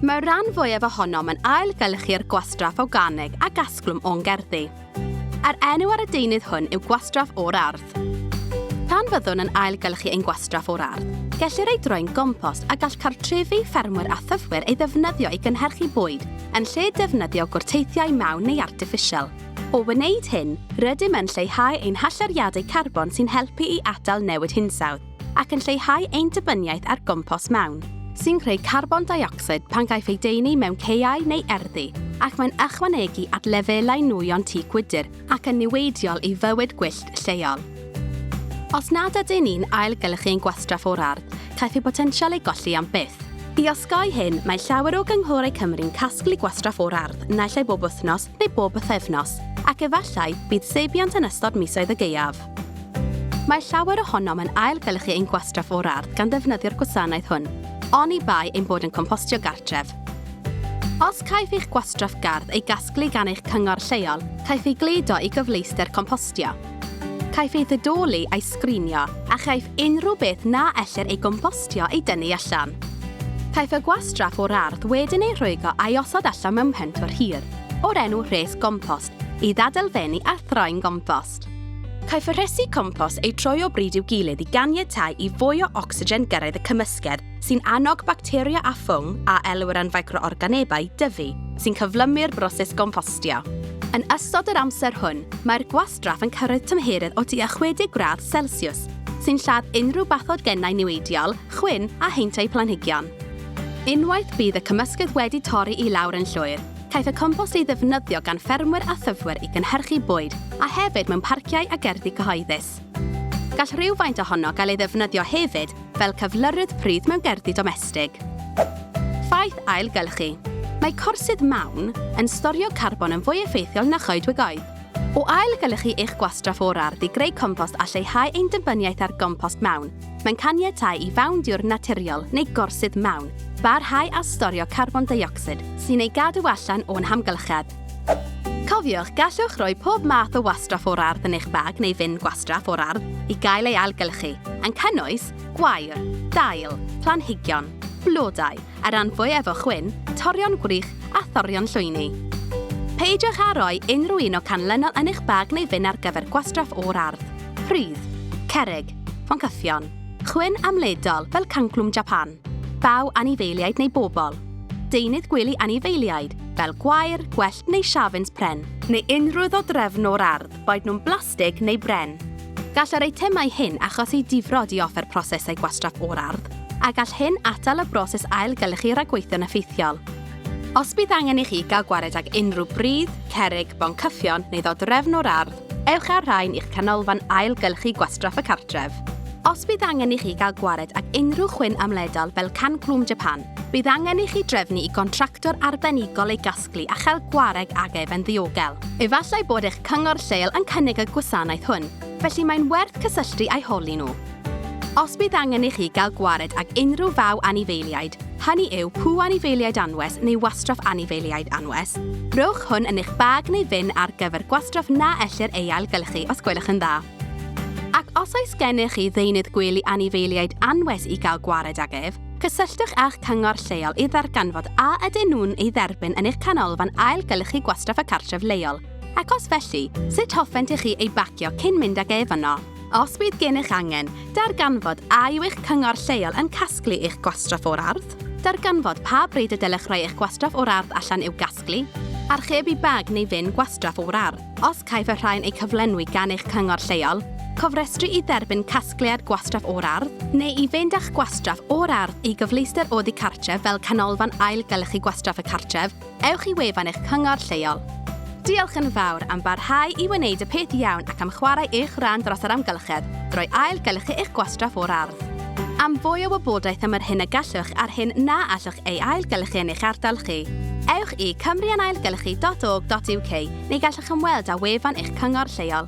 Mae'r rhan fwyaf ohonom yn ailgylchu'r gwastraff awganeg a gasglwm o'n gerddi. A'r enw ar y deunydd hwn yw gwastraff o'r ardd. Pan fyddwn yn ailgylchu ein gwastraff o'r ardd, gellir ei droi'n gompost a gall cartrefi, ffermwyr a thyfwyr ei ddefnyddio i gynhyrchu bwyd, yn lle defnyddio gwrteithiau mawn neu artiffisial. O wneud hyn, rydym yn lleihau ein hallyriadau carbon sy'n helpu i atal newid hinsawdd ac yn lleihau ein dibyniaeth ar gompos mawn, sy'n creu carbon deuocsid pan gaiff ei deunu mewn caeau neu erddi, ac mae'n ychwanegu at lefelau nwyon tŷ gwydr ac yn niweidiol i fywyd gwyllt lleol. Os nad ydyn ni'n ailgylchu ein gwastraff o'r ardd, caiff ei botensial ei golli am byth. I osgoi hyn, mae llawer o gynghorau Cymru'n casglu gwastraff o'r ardd naill ai bob wythnos neu bob pythefnos, ac efallai bydd seibiant yn ystod misoedd y gaeaf. Mae llawer ohonom yn ailgylchu ein gwastraff o'r ardd gan ddefnyddio'r gwasanaeth hwn, oni bai ein bod yn compostio gartref. Os caiff eich gwastraff gardd ei gasglu gan eich cyngor lleol, caiff ei gludo i gyfleuster compostio. Caiff ei ddidoli a'i sgrinio a chaiff unrhyw beth na ellir ei gompostio ei dynnu allan. Caiff y gwastraff o'r ardd wedyn ei rhwygo a'i osod allan mewn pentwr hir, o'r enw rhes gompost, i ddadelfennu a throi'n gompost. Caiff y rhesi compost eu troi o bryd i'w gilydd i ganiatáu i fwy o ocsigen gyrraedd y cymysgedd sy'n annog bacteria a ffwng, a elwir yn ficroorganebau, dyfu, sy'n cyflymu'r broses gompostio. Yn ystod yr amser hwn, mae'r gwastraff yn cyrraedd tymheredd o tua 60 gradd Celsiws, sy'n lladd unrhyw bathogennau niweidiol, chwyn a heintiau planhigion. Unwaith bydd y cymysgedd wedi torri i lawr yn llwyr, caiff y compost ei ddefnyddio gan ffermwyr a thyfwyr i gynhyrchu bwyd a hefyd mewn parciau a gerddi cyhoeddus. Gall rhywfaint ohono gael ei ddefnyddio hefyd fel cyflyrydd pridd mewn gerddi domestig. Ffaith ailgylchu. Mae corsydd mawn yn storio carbon yn fwy effeithiol na choedwigoedd. O ailgylchu eich gwastraff o'r ardd i greu compost a lleihau ein dibynniaeth ar gompost mawn, mae'n caniatáu i fawn diwr naturiol neu gorsydd mawn barhau â storio carbon deuocsid sy'n ei gadw allan o'n hamgylchedd. Cofiwch, gallwch roi pob math o wastraff o'r ardd yn eich bag neu fin gwastraff o'r ardd i gael ei ailgylchu, yn cynnwys gwair, dail, planhigion, blodau, a ran fwyaf o chwyn, torion gwrych a thorion llwyni. Peidiwch â rhoi unrhyw un o canlynol yn eich bag neu fin ar gyfer gwastraff o'r ardd, pridd, cerrig, foncyffion, chwyn amledol fel canclwm Japan, Baw anifeiliaid neu bobl. Deunydd gwely anifeiliaid, fel gwair, gwellt neu siafins pren. Neu unrhyw ddodrefn o'r ardd, boed nhw'n blastig neu bren. Gall yr eitemau hyn achosi difrod i offer prosesau gwastraff o'r ardd, a gall hyn atal y broses ailgylchu ragweithio'n effeithiol. Os bydd angen i chi gael gwared ag unrhyw bridd, cerrig, boncyffion neu ddodrefn o'r ardd, Ewch â'r rhain i'ch canolfan ailgylchu gwastraff y cartref. Os bydd angen i chi gael gwared ag unrhyw chwyn amledol fel can clwm Japan, bydd angen i chi drefnu i gontractwr arbenigol ei gasglu a chael gwareg ag ef yn ddiogel. Efallai bod eich cyngor lleol yn cynnig y gwasanaeth hwn, felly mae'n werth cysylltu â'i holi nhw. Os bydd angen i chi gael gwared ag unrhyw faw anifeiliaid, hynny yw pw anifeiliaid anwes neu wastraff anifeiliaid anwes, rhowch hwn yn eich bag neu fyn ar gyfer gwastraff na ellir ei ailgylchu os gwelwch yn dda. Ac os oes gennych chi ddeunydd gwely anifeiliaid anwes i gael gwared ag ef, cysylltwch â'ch cyngor lleol i ddarganfod a ydyn nhw'n ei dderbyn yn eich canolfan ailgylchu gwastraff y cartref leol, ac os felly, sut hoffent i chi ei bacio cyn mynd ag ef yno. Os bydd gennych angen, darganfod a yw eich cyngor lleol yn casglu eich gwastraff o'r ardd, darganfod pa bryd y dylech roi eich gwastraff o'r ardd allan i'w gasglu, archebu bag neu fin gwastraff o'r ardd, os caiff y rhain eu cyflenwi gan eich cyngor lleol, cofrestru i dderbyn casgliad gwastraff o'r ardd, neu i fynd â'ch gwastraff o'r ardd i gyfleuster oddi cartref fel canolfan ail-gylchu gwastraff y cartref, ewch i wefan eich cyngor lleol. Diolch yn fawr am barhau i wneud y peth iawn ac am chwarae eich rhan dros yr amgylchedd drwy ail-gynhyrchu eich gwastraff o'r ardd. Am fwy o wybodaeth am yr hyn y gallwch a'r hyn na allwch ei ail-gynhyrchu yn eich ardal chi, ewch i cymruanailgynhyrchu.org.uk neu gallwch ymweld â wefan eich cyngor lleol.